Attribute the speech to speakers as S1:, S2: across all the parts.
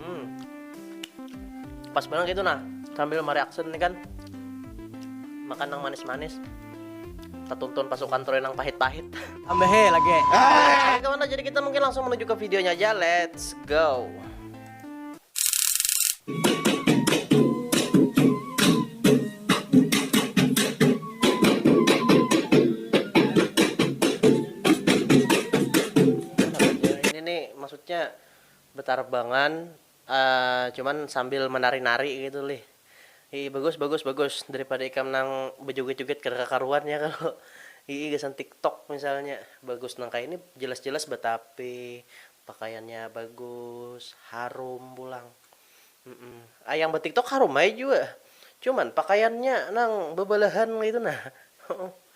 S1: hmm pas banget gitu nah sambil mereaksi ini kan makan yang manis-manis ketuntun pasukan Troy yang pahit-pahit ambehe lagi
S2: ah. kawan jadi
S1: kita mungkin langsung menuju ke videonya aja let's go Nya betarbangan cuman sambil menari-nari gitu lih. Hihi bagus bagus bagus daripada ikam nang bejoget-joget kada kakaruan ya kalo hihi gasan tiktok misalnya. Bagus nang kaya ini jelas-jelas betapi, pakaiannya bagus, harum pulang. Yang betiktok harum ai jua cuman pakaiannya nang bebelahan kaitu nah.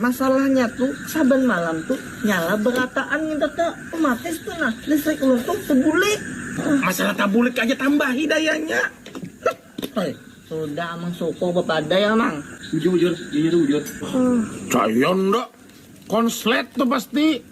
S3: Masalahnya tu,
S2: saban malam tu nyala berataan nginta te matis tu nah, listrik ulun tu tebulik. Masalah
S3: tabulik aja tambahi dayanya. Heh. Sudah
S2: amang sukuh bepadai amang. Bujur bujur, inya tu
S3: bujur.
S4: Caya nda, konslet tu pasti.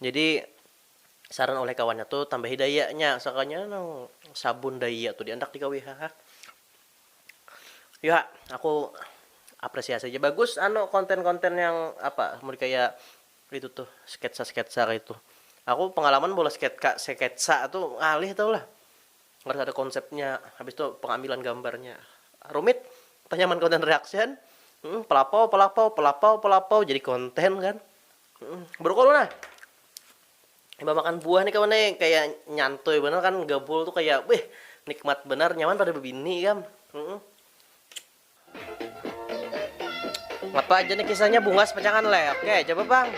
S1: Jadi saran oleh kawannya tu tambahi dayanya sakalinya nang sabun daya tu diandak digawi ha ha. Yu ha aku apresiasi ja bagus anu konten konten yang apa mun kaya itu tuh sketsa sketsa kaya itu aku pengalaman meulah sketka sketsa tu ngalih tau lah harus ada konsepnya habis tu pengambilan gambarnya rumit tanya man konten reaction pelapau pelapau pelapau pelapau jadi konten kan Berukol mana? Imbah makan buah nih kawan nih kaya nyantuy banar kan gabul tuh kaya wih nikmat banar nyaman pada bebini ikam. Apa aja nih kisahnya bungas pacangan le. Oke, coba bang.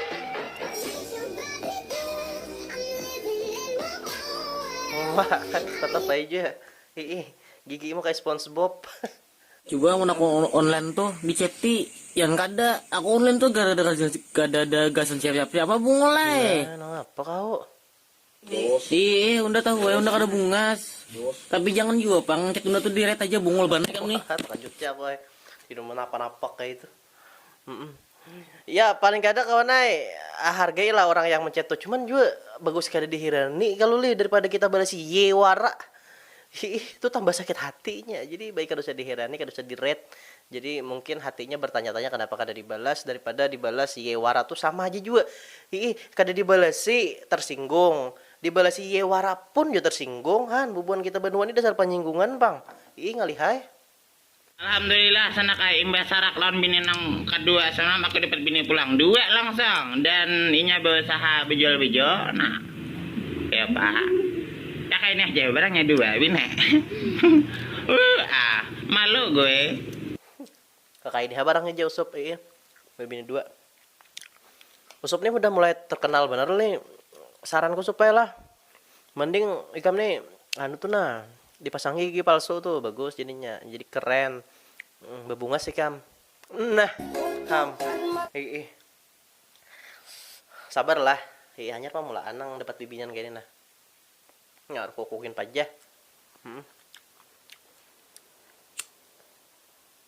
S1: Wah, tetap aja. Ih, gigimu kayak SpongeBob. Juga
S2: mun aku online tuh di ceti yang kada aku online tuh kada ada kada ada gasan siapa-siapa bungul ai. Nah, nang apa kau? Iih, unda tahu ai unda kada bungas. Tapi jangan jua pang, chat unda tuh direct aja bungul banar ikam nih. Lanjut ja aku ai.
S1: Inuman napa-napa kaitu. Ya paling kada kawan ai hargai lah orang yang mencet tu cuman jua bagus kada dihirani kalu lih daripada kita balas ye wara hiih tu tambah sakit hatinya jadi baik kada usah dihirani kada usah di read jadi mungkin hatinya bertanya-tanya kanapa kada dibalas daripada dibalas ye wara tu sama haja jua hiih kada dibalasi tersinggung dibalasi ye wara pun jua tersinggung han bubuhan kita banua ni dasar panyinggungan pang hiih ngalih ai.
S5: Alhamdulillah sanak ai imbah sarak lawan bini nang kadua semalam aku dapat bini pulang dua langsung dan inya bausaha bajual baju nah kaya apa ya kaya ini haja barangnya dua bini uuhh malu gue.
S1: Kaya ini ha barangnya jar usup ii babini dua usup nih hudah mulai terkenal banar nih saranku supaya lah. Mending ikam ni anu tu nah dipasangi gigi palsu tu bagus jadinya jadi keren bebungas ikam nah ham iih sabar lah iih hanyar pang mulaan nang dapat bibinian kaya ni nah ngar kuku gin pajah hmm.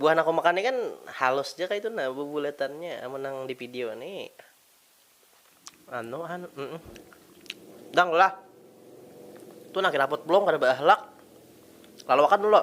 S1: Buah nang kumakan ni kan halus ja kaitu nah bubulatannya amun nang di video ni anu han dang lah tu nang kiraput belum kada baahlak laluakan dulu.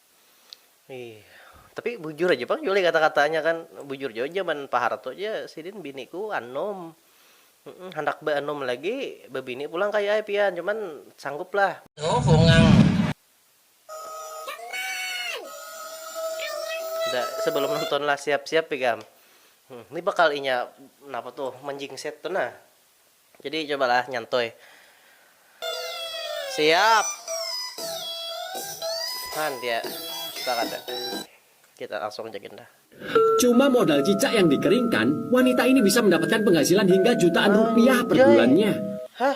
S1: Ih, tapi bujur aja pang Juli kata-katanya kan bujur jua zaman Pak Harto ja sidin biniku anum handak beanum lagi bebini pulang kaya ai pian cuman sanggup lah da sebelum nonton lah siap-siap ikam ni bakal inya napa tuh menjingset tuh nah Jadi coba lah nyantui. Siap. Han dia sepakat ya. Kita langsung ajakin dah. Cuma modal
S6: cicak yang dikeringkan, wanita ini bisa mendapatkan penghasilan hingga jutaan rupiah per bulannya. Hah?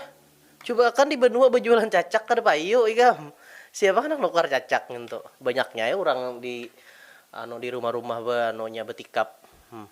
S1: Cuba akan di benua bejualan cacak kada payu ikam. Siapa handak nukar cacak ngintu. Banyaknya ai urang di anu di rumah-rumah be anunya betikap. Hmm.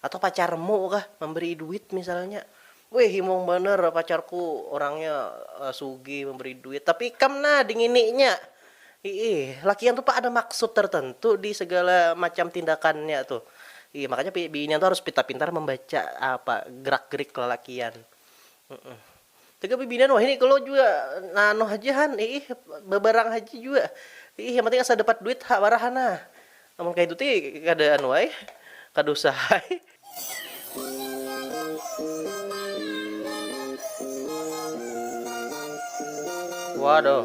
S1: Atau pacarmu kah mambarii duit misalnya, wih himung banar pacarku orangnya sugih mambarii duit, tapi ikam nah dingininya, iih lakian tu ada maksud tertentu di segala macam tindakannya tu, iih makanya binian tu harus pintar-pintar mambaca apa gerak-gerik lalakian. Tagal bibinan wahini kalo jua naanu haja han iih babarang haja jua iih yang penting asa dapat duit ha wara hana amun kaitu ti kada anu ai kada usah ai. Waduh.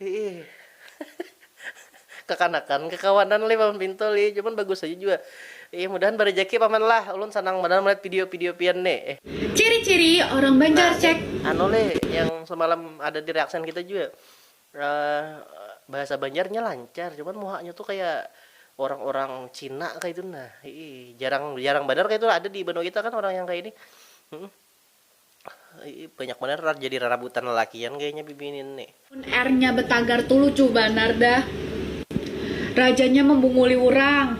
S1: Hiih kakanakan kakawanan lih paman pintu lih cuman bagus haja jua iih mudahan barajaki paman lah ulun sanang banar malihat video video pian ne eh. Ciri ciri
S7: orang banjar cek. Nah nih anu lih yang
S1: semalam ada di reaction kita jua bahasa banjar nya lancar cuman muha nya tuh kaya orang orang cina kaitu nah hiih jarang jarang banar kaitu ada di banua kita kan orang yang kaya ini. Banyak banar jadi rarabutan lalakian kayanya bibinian ni. Mun air nya betagar
S7: tu lucu banar dah. Raja nya membunguli urang.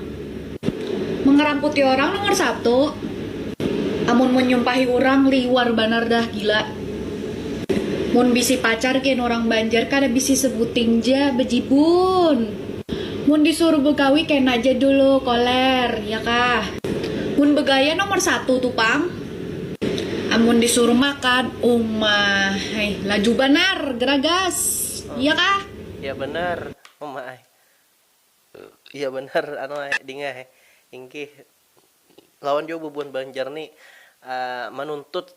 S7: Mengeramputi orang nomor satu. Amun menyumpahi urang liwar banar dah gila. Mun bisi pacar gin urang banjar kada bisi sebuting ja bejibun. Mun disuruh begawi kena ja dulu koler ya kah. Mun begaya nomor satu tu pang. Amun disuruh makan, uma ai laju banar garagas, iya kah? Iya banar,
S1: uma ai. Iya banar, anu ai, ding ai. Ingkih, lawan jua bubuhan Banjar ni manuntut.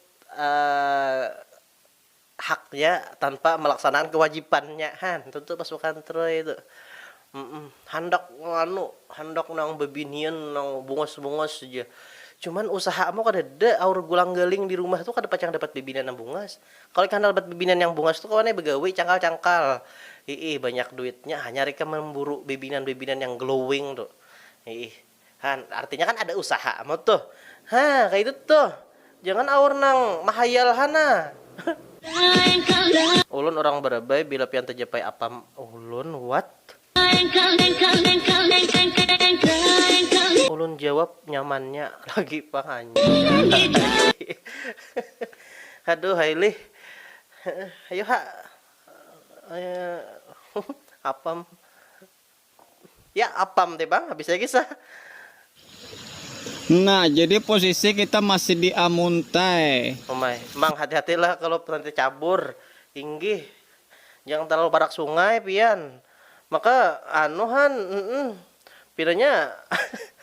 S1: haknya tanpa malaksanaakan kewajipannya ha tentu pasukan troy tu handak anu handak nang bebinian nang bungas bungas ja cuman usaha mu kadada aur gulang galing di rumah tu kada pacang dapat bebinian nang bungas kalo ikam handak dapat bebinian yang bungas tu kawa ne begawi cangkal cangkal hiih banyak duitnya hanyar ikam mamburu bebinian bebinian yang glowing tu hiih. Ha, artinya kan ada usaha amat tuh. Ha, kaitu tuh. Jangan aur nang mahayal ha nah. Ulun urang Barabai, bila pian tajapai apam ulun what? Ulun jawab nyamannya lagi pang anjing. Haduh ai lih. Ayu ha. Apam. Ya apam te pang habis ya kisah.
S3: Nah jadi posisi kita masih di amuntai. Umai, mang hati
S1: hati lah kalup nanti cabur, inggih, jangan terlalu parak sungai pian, maka anu han, nn, pinanya.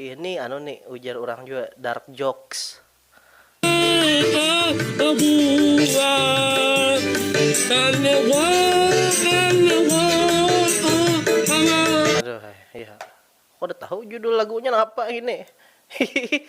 S1: Ih ni anu ni ujar urang jua dark jokes. Aduh ai, iya. Aku kada tahu judul lagunya napa ini. Hihihi,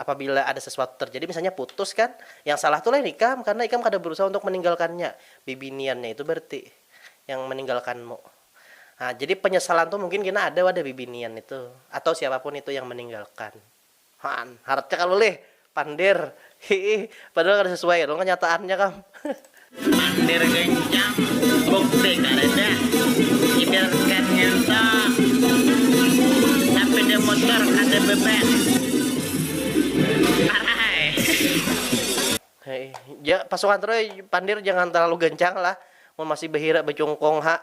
S1: Apabila ada sesuatu terjadi, misalnya putus kan, yang salah tu lain ikam karena ikam kada berusaha untuk meninggalkannya, bibiniannya itu berarti yang meninggalkanmu. Nah, jadi penyesalan tu mungkin kena ada wadah bibinian itu atau siapapun itu yang meninggalkan. Haan, haratnya kalo lih, pander, hiih, padahal kada sesuai dong kenyataannya kam. Mandir
S5: gancang, bukti kadada. Idarkan nginto, sapida mutur kada beban. Parai.
S1: Jar pasukan Troy, Pandir jangan terlalu gancang lah, mun masih bahira bacungkung ha.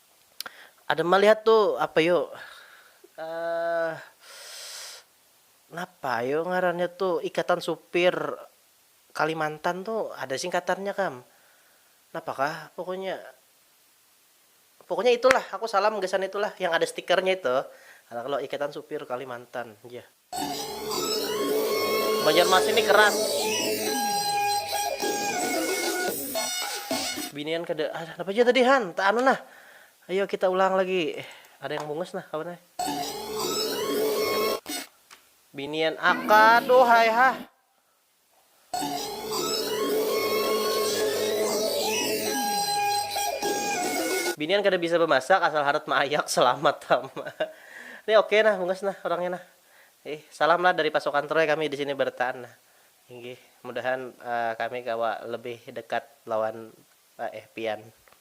S1: Ada malihat tu apa yu napa yu ngarannya tu Ikatan Supir Kalimantan tu ada singkatannya kam napa kah pokoknya pokoknya itulah aku salam gasan itulah yang ada stikernya itu ada kalo Ikatan Supir Kalimantan. Banjarmasin ni keras. Binian kada ah, napa ja tadi han? Ta anu nah. Ayo kita ulang lagi. Ada yang bungas nah kawan ai. Binian akaduh hai hah. Binian kada bisa bamasak asal harat maayak selamat tama nih oke nah bungas nah orangnya nah ih salam lah dari pasukan troy kami disini bertaan nah inggih mudahan kami kawa lebih dekat lawan eh pian.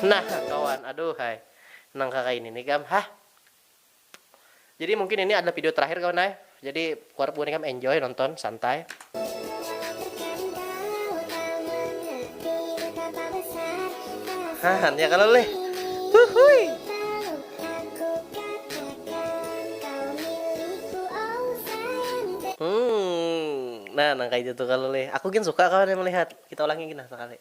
S1: Nah kawan, aduhai nang kakaini ni kam hah. Jadi mungkin ini adalah video terakhir kawan ai. Jadi kuharap buhannya kam enjoy nonton santai. Hah ya kalo leh. Huhuy. Nah nang kaya itu tuh kalo leh. Aku gin suka kawan ai melihat. Kita ulangi gin nah sakali.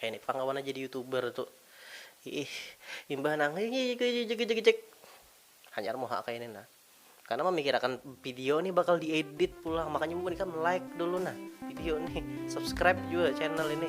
S1: Kayani pang kawannya jadi youtuber tu iih imbah nang jegejegejegejeg hanyar muha kayani nah karena memikirakan video nih bakal diedit pulang makanya bubuhan ikam like dulu nah video nih subscribe juga channel ini